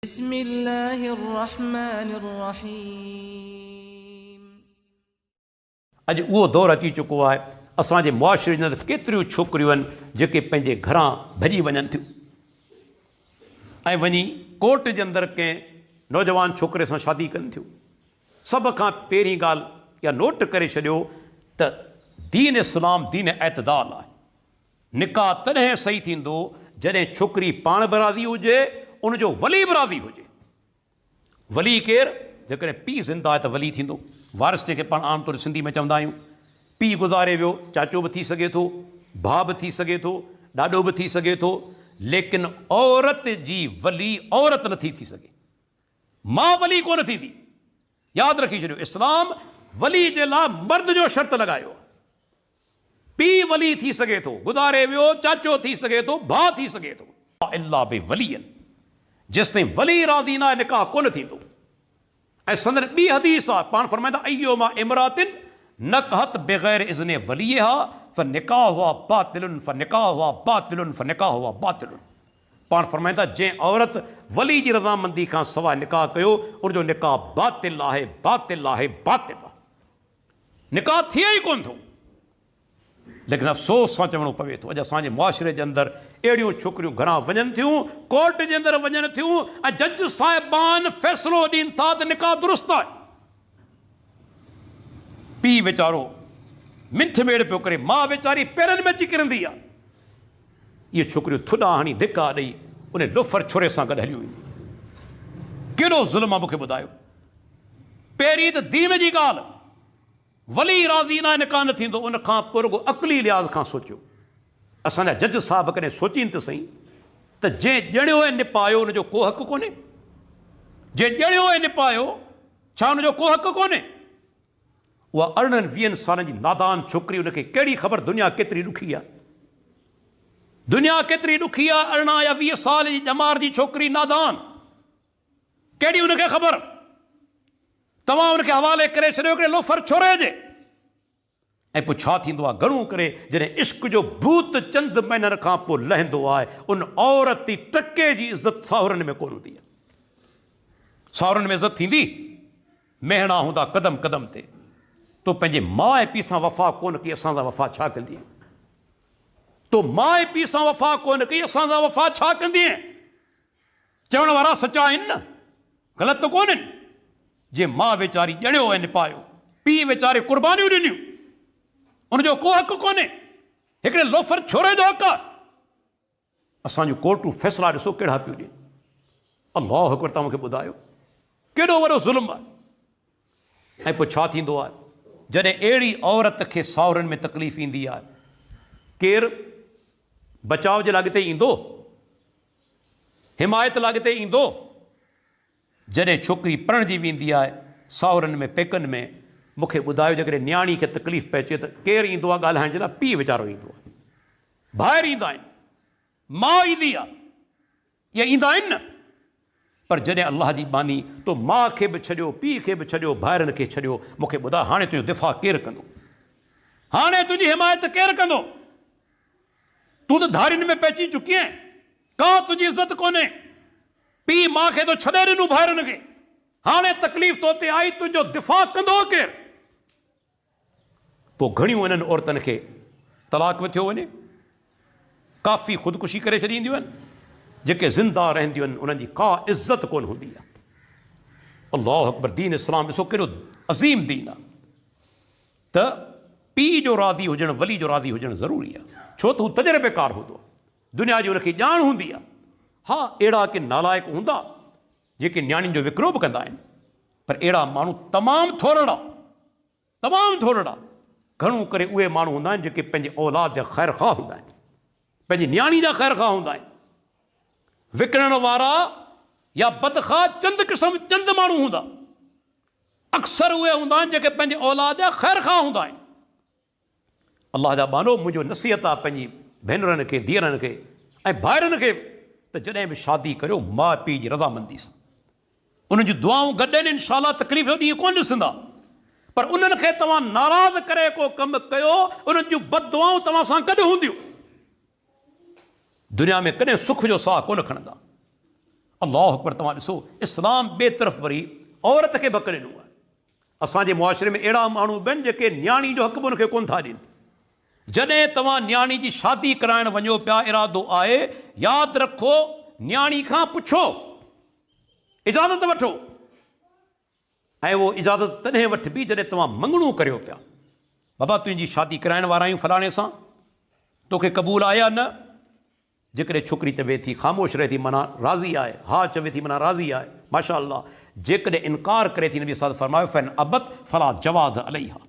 بسم الله الرحمٰن الرحيم. اڄ اهو دور اچي چڪو آهي اسان جي معاشري جي اندر ڪيتريون ڇوڪريون آهن جيڪي پنهنجي گهران ڀڄي وڃن ٿيون ۽ وڃي ڪورٽ جي اندر ڪنهن نوجوان ڇوڪري سان شادي ڪن ٿيون سڀ کان پهرين ڳالهه اها نوٽ ڪري ڇڏيو ته دين اسلام دين اعتدال آهي نڪاح تڏهن صحيح ٿيندو جڏهن ڇوڪري پاڻ به راضي هجي ان جو ولي به راضي هجي. ولي ڪير؟ جيڪڏهن پيء زنده آهي ته ولي ٿيندو. وارث جنهن کي پاڻ عام طور سنڌي ۾ چوندا آهيون. پيء گذاري ويو چاچو به ٿي سگهي ٿو، ڀاء به ٿي سگهي ٿو، ڏاڏو به ٿي سگهي ٿو ليڪن عورت جي ولي عورت نه ٿي ٿي سگهي. ماء ولي ڪونه ٿيندي. ياد رکي ڇڏيو اسلام ولي جي لاء مرد جو شرط لڳايو آهي. پيء ولي ٿي سگهي ٿو، گذاري ويو چاچو ٿي سگهي ٿو، ڀاء ٿي سگهي ٿو. الا بولي، جيستائين ولي راضي ناهي نڪاح ڪونه ٿيندو ۽ سندن ٻي حديث آهي پاڻ فرمائين ٿا ايما امراء نڪحت بغير اذن وليها فنڪاحها باطل فنڪاحها باطل فنڪاحها باطل پاڻ فرمائين ٿا جنهن عورت ولي جي رضامندي کان سواء نڪاح ڪيو ان جو نڪاح باطل آهي باطل آهي باطل آهي. نڪاح ٿئي ئي ڪونه ٿو ليڪن افسوس سان چوڻو پوي ٿو اڄ اسان جي معاشري جي اندر اهڙيون ڇوڪريون گهران وڃن ٿيون ڪورٽ جي اندر وڃن ٿيون ۽ جج صاحبان فيصلو ڏين ٿا ته نڪاح درست آهي پيء ويچارو منٿ ميڙ پيو ڪري ماء ويچاري پيرن ۾ اچي ڪرندي آهي اهي ڇوڪريون ٿڏا هڻي ڌڪا ڏئي انهي لوفر ڇوري سان گڏ هليون وينديون ڪيڏو ظلم آ مون کي ٻڌايو پهرين ته دين جي ڳالهه ولي راضي ناهي نڪاح نه ٿيندو ان کان پوء رڳو عقلي لحاظ کان سوچيو اسان جا جج صاحب ڪڏهن سوچين ته سهي ته جنهن ڄڻيو ۽ نپايو ان جو ڪو حق ڪونهي جنهن ڄڻيو ۽ نپايو ڇا ان جو ڪو حق ڪونهي اها ارڙهن ويهن سالن جي نادان ڇوڪري ان کي ڪهڙي خبر دنيا ڪيتري ڏکي آهي. دنيا ڪيتري ڏکي آهي ارڙهن يا ويهه سال جي ڄمار جي ڇوڪري نادان ڪهڙي ان کي خبر توهان ان کي حوالي ڪري ڇڏيو هڪڙي لوفر ڇوري جي ۽ پوء ڇا ٿيندو آهي؟ گهڻو ڪري جڏهن عشق جو ڀوت چند مهينن کان پوء لهندو آهي، ان عورت تي ٽڪي جي عزت ساهرن ۾ ڪونه هوندي آهي. ساهرن ۾ عزت ٿيندي؟ مهڻا هوندا قدم قدم تي. تو پنهنجي ماء پيء سان وفا ڪونه ڪئي، اسان سان وفا ڇا ڪندينء؟ تو ماء پيء سان وفا ڪونه ڪئي، اسان سان وفا ڇا ڪندينء؟ چوڻ وارا سچا آهن نه؟ غلط ته ڪونهن؟ جي ماء ويچاري ڄڻيو ۽ نپايو، پيء ويچاري قربانيون ڏنيون، ان جو ڪو حق ڪونهي، هڪڙي لوفر ڇوري جو حق آهي. اسان جون ڪورٽون فيصلا ڏسو ڪهڙا پيون ڏين. الله اڪبر توهان مون کي ٻڌايو ڪيڏو وڏو ظلم آهي ۽ پوء ڇا ٿيندو آهي جڏهن اهڙي عورت کي ساهرن ۾ تڪليف ايندي آهي ڪير بچاء جي لاء اڳتي ايندو؟ حمايت لاء اڳتي ايندو؟ جڏهن ڇوڪري پرڻجي ويندي آهي ساهرن ۾ پيڪن ۾ مون کي ٻڌايو جيڪڏهن نياڻي کي تڪليف پهچي ته ڪير ايندو آهي ڳالهائڻ جي لاء پيء ويچارو ايندو آهي ڀائر ايندا آهن ماء ايندي آهي اهي ايندا آهن نه پر جڏهن الله جي ٻانهي تو ماء کي به ڇڏيو پيء کي به ڇڏيو ڀائرن کي ڇڏيو مون کي ٻڌاء هاڻي تنهنجو دفاع ڪير ڪندو هاڻي تنهنجي حمايت ڪير ڪندو. تون ته ڌارين ۾ پئجي چڪي آهين، ڪا تنهنجي عزت ڪونهي. پيء ماء کي ٿو ڇڏي ڏنو ڀائرن کي، هاڻي تڪليف تو تي آئي، تنهنجو دفاع ڪندو ڪير؟ پوء گهڻيون انهن عورتن کي طلاق به ٿيو وڃي، ڪافي خودڪشي ڪري ڇڏينديون آهن، جيڪي زنده رهنديون آهن انهن جي ڪا عزت ڪونه هوندي آهي. الله اڪبر دين اسلام ڏسو ڪيڏو عظيم دين آهي. ته پيء جو راضي هجڻ ولي جو راضي هجڻ ضروري آهي، ڇو ته هو تجربيڪار هوندو آهي، دنيا جي هن کي ڄاڻ هوندي آهي. ها، اهڙا ڪي نالائق هوندا، جيڪي نياڻين جو وڪرو به ڪندا آهن، پر اهڙا ماڻهو تمام ٿورڙا، تمام ٿورڙا، گهڻو ڪري اهي ماڻهو هوندا آهن، جيڪي پنهنجي اولاد جا خيرخواهه هوندا آهن، پنهنجي نياڻي جا خيرخواهه هوندا آهن. وڪڻڻ وارا يا بدخواهه چند قسم، چند ماڻهو هوندا، اڪثر اهي هوندا آهن جيڪي پنهنجي اولاد جا خيرخواهه هوندا آهن. الله جا ٻانهو منهنجو نصيحت آهي پنهنجي ڀينرن کي، ڌيئرن کي ۽ ڀائرن کي ته جڏهن به شادي ڪريو ماء پيء جي رضامندي سان انهن جون دعائون گڏين انشاء الله تڪليف جو ڏينهن ڪونه ڏسندا پر انهن کي توهان ناراض ڪري ڪو ڪم ڪيو انهن جون بددعائون توهان سان گڏ هونديون. دنيا ۾ ڪڏهن سک جو ساهه ڪونه کڻندا. الله اڪبر توهان ڏسو اسلام ٻي طرف وري عورت کي به حق ڏنو آهي اسان جي معاشري ۾ اهڙا ماڻهو به آهن جيڪي نياڻي جو حق به ان کي ڪونه ٿا ڏين جڏهن توهان نياڻي جي شادي ڪرائڻ وڃو پيا ارادو آهي ياد رکو نياڻي کان پڇو اجازت وٺو ۽ اهو اجازت تڏهن وٺبي جڏهن توهان مڱڻو ڪريو پيا. بابا تنهنجي شادي ڪرائڻ وارا آهيون فلاڻي سان، توکي قبول آهي يا نه؟ جيڪڏهن ڇوڪري چوي ٿي خاموش رهي ٿي معنيٰ راضي آهي، ها چوي ٿي معنيٰ راضي آهي، ماشاء الله، جيڪڏهن انڪار ڪري ٿي نبي صاد فرمايو فإن ابت فلا جواز عليها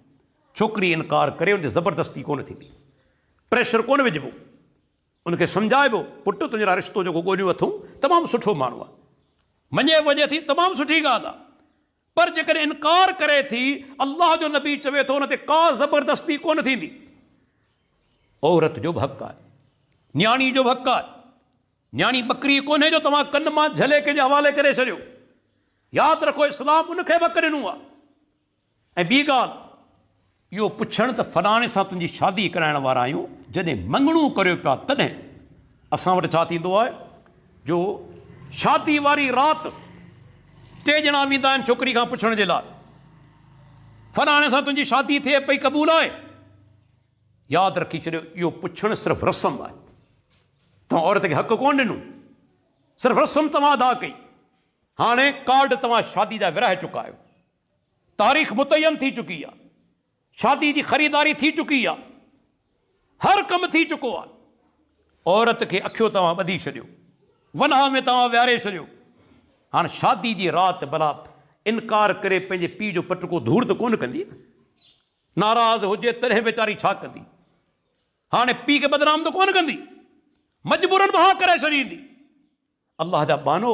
ڇوڪري انڪار ڪري ان تي زبردستي ڪونه ٿيندي، پريشر ڪونه وجهبو. ان کي سمجهائبو، پٽ تنهنجي لاء رشتو جيڪو ڳوليو اٿئون تمام سٺو ماڻهو آهي. مڃي به وڃي ٿي تمام سٺي ڳالهه آهي. پر جيڪڏهن انڪار ڪري ٿي، الله جو نبي چوي ٿو ان تي ڪا زبردستي ڪونه ٿيندي. عورت جو به حق آهي. نياڻي جو به حق آهي. نياڻي ٻڪري ڪونهي جو توهان ڪن مان جهلي ڪنهن جي حوالي ڪري ڇڏيو. ياد رکو اسلام ان کي به حق ڏنو آهي. ۽ ٻي ڳالهه اهو پڇڻ ته فلاڻي سان تنهنجي شادي ڪرائڻ وارا آهيون، جڏهن مڱڻو ڪريو پيا تڏهن اسان وٽ ڇا ٿيندو آهي جو شادي واري رات ٽي ڄڻا ويندا آهن ڇوڪري کان پڇڻ جي لاء فلاڻي سان تنهنجي شادي ٿئي پئي قبول آهي؟ ياد رکي ڇڏيو اهو پڇڻ صرف رسم آهي توهان عورت کي حق ڪون ڏنو صرف رسم توهان ادا ڪئي هاڻي ڪارڊ توهان شادي جا ورهائي چڪا آهيو تاريخ متعين ٿي چڪي آ شادي جي خريداري ٿي چڪي آ هر ڪم ٿي چڪو آ عورت کي اکيو توهان ٻڌي ڇڏيو ونهان ۾ توهان ويهاري ڇڏيو هاڻ شادي جي رات بلا انڪار ڪري پنهنجي پيء جو پٽڪو ڌوڙ ته ڪونه ڪندي نه ناراض هجي تڏهن ويچاري ڇا ڪندي هاڻي پيء کي بدنام ته ڪونه ڪندي مجبورن به ها ڪري ڇڏيندي. الله جا ٻانهو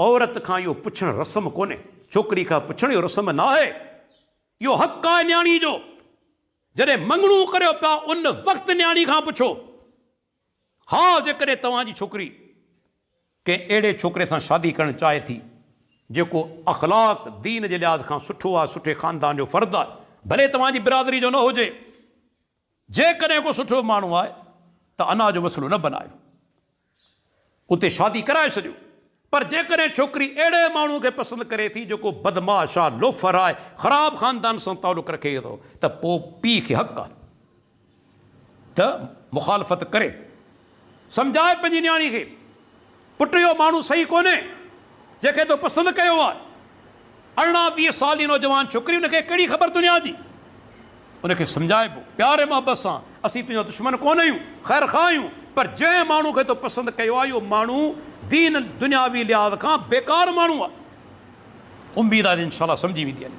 عورت کان اهو پڇڻ رسم ڪونهي ڇوڪري کان پڇڻ اهو رسم ناهي اهو حق آهي نياڻي جو جڏهن مڱڻو ڪريو پيا ان وقت نياڻي کان پڇو ها جيڪڏهن توهان جي ڇوڪري ڪنهن اهڙي ڇوڪري سان شادي ڪرڻ چاهي ٿي جيڪو اخلاق دين جي لحاظ کان سٺو آهي سٺي خاندان جو فرد آهي ڀلي توهان جي برادري جو نه هجي جيڪڏهن ڪو سٺو ماڻهو آهي ته انا جو مسئلو نه بنايو اتي شادي ڪرائي ڇڏيو پر جيڪڏهن ڇوڪري اهڙي ماڻهو کي پسند ڪري ٿي جيڪو بدمعاش آهي لوفر آهي خراب خاندان سان تعلق رکي ٿو ته پوء پيء کي حق آهي ته مخالفت ڪري. سمجھاء پنهنجي نياڻي کي، پٽ اهو ماڻهو صحيح ڪونهي، جنهن کي تو پسند ڪيو آهي. ارڙهن ويهه سال جي نوجوان ڇوڪري، ان کي ڪهڙي خبر دنيا جي؟ ان کي سمجھائبو، پيار ۽ محبت سان، اسين تنهنجا دشمن ڪونه آهيون، خير خواهه آهيون، پر جنهن ماڻهو کي تو پسند ڪيو آهي، اهو ماڻهو دين ۽ دنياوي لحاظ کان بيڪار ماڻهو آهي. اميد آهي ته انشاء الله سمجھي ويندينء.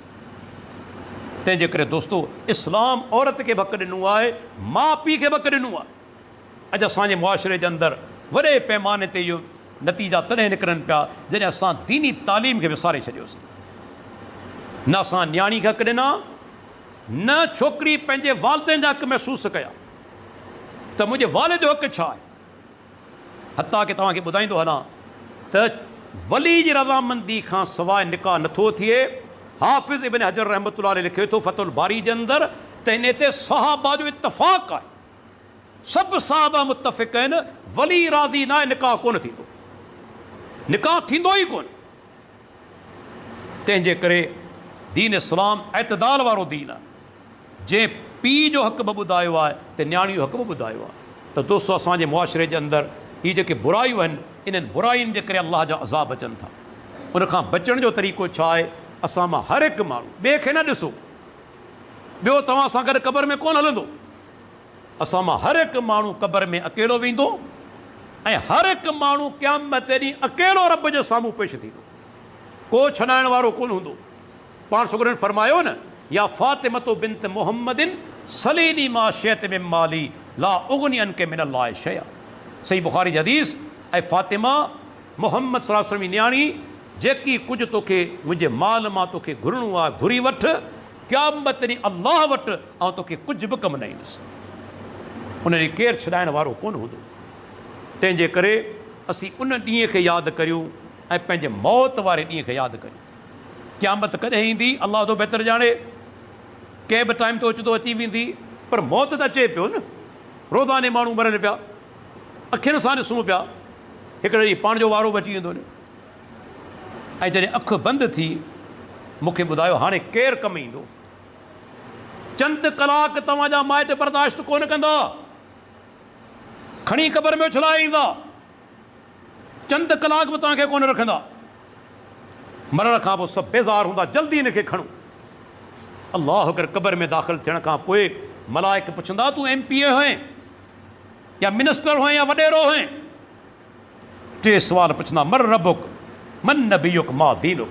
تنهنجي ڪري دوستو، اسلام عورت کي به حق ڏنو آهي، ماء پيء کي به حق ڏنو آهي. اڄ اسان جي معاشري جي اندر وڏي پيماني تي اهي نتيجا تڏهن نڪرن پيا جڏهن اسان ديني تعليم کي وساري ڇڏيوسين. نه اسان نياڻي کي حق ڏنا نه ڇوڪري پنهنجي والدين جا حق محسوس ڪيا ته منهنجي والد جو حق ڇا آهي. حتيٰ ڪي توهان کي ٻڌائيندو هلان ته ولي جي رضامندي کان سواء نڪاح نه ٿو ٿئي. حافظ ابن حجر رحمة الله عليه لکي ٿو فتح الباري جي اندر ته هن تي صحابه جو اتفاق آهي. سڀ صحابه متفق آهن ولي راضي نه آهي نڪاح ڪونه ٿيندو نڪاح ٿيندو ئي ڪونه تنهنجي ڪري دين اسلام اعتدال وارو دين آهي جنهن پي جو حق به ٻڌايو آهي ته نياڻي جو حق به ٻڌايو آهي ته دوستو اسان جي معاشري جي اندر هي جيڪي برايون آهن انهن براين جي ڪري الله جا عذاب اچن ٿا ان کان بچڻ جو طريقو ڇا آهي اسان مان هر هڪ ماڻهو ٻئي کي نه ڏسو ٻيو توهان سان گڏ قبر ۾ ڪونه هلندو. اسان مان هر هڪ ماڻهو قبر ۾ اڪيلو ويندو ۽ هر هڪ ماڻهو قيامت ڏينهن اڪيلو رب جي سامهون پيش ٿيندو. ڪو ڇڏائڻ وارو ڪونه هوندو. پاڻ سڳورن فرمايو نه، يا فاطمة بنت محمد سليني ما شئت من مالي لا اغني عنڪ من الله شيئا صحيح بخاري جي حديث، اي فاطمه! محمد صلي الله عليه وسلم جي نياڻي، جيڪي ڪجهه توکي منهنجي مال مان توکي گهرڻو آهي گهري وٺ، قيامت ڏينهن الله وٽ آئون توکي ڪجهه به ڪم نه ايندس. ان ڏينهن ڪير ڇڏائڻ وارو ڪونه هوندو. تنهن جي ڪري اسين ان ڏينهن کي ياد ڪريون ۽ پنهنجي موت واري ڏينهن کي ياد ڪريون. قيامت ڪڏهن ايندي، الله وڌو بهتر ڄاڻي. ڪنهن به ٽائيم تي اوچتو اچي ويندي. پر موت ته اچي پيو نه. روزاني ماڻهو مرن پيا. اکين سان ڏسون پيا، هڪڙي ڏينهن پاڻ جو وارو به اچي ويندو وڃي. ۽ جڏهن اک بند ٿي، مون کي ٻڌايو، هاڻي ڪير ڪم ايندو؟ چند ڪلاڪ توهان جا مائٽ برداشت ڪونه ڪندا. کڻي قبر ۾ اڇلائي ايندا. چند ڪلاڪ به توهان کي ڪونه رکندا. مرڻ کان پوء سڀ بيزار هوندا. جلدي هن کي کڻو. الله اڪبر قبر ۾ داخل ٿيڻ کان پوء ملائڪ پڇندا، تون ايم پي اي هئين؟ يا منسٽر هئين يا وڏيرو هئين ٽي سوال پڇندا من ربک من نبيک ما دينک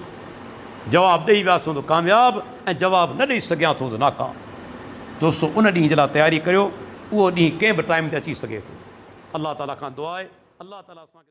جواب ڏئي وياسون ته ڪامياب ۽ جواب نه ڏئي سگهيا ٿو ته ناڪام دوستو ان ڏينهن جي لاء تياري ڪريو اهو ڏينهن ڪنهن به ٽائيم تي اچي سگهي ٿو الله تعالي کان دعا آهي الله تعالي اسان کي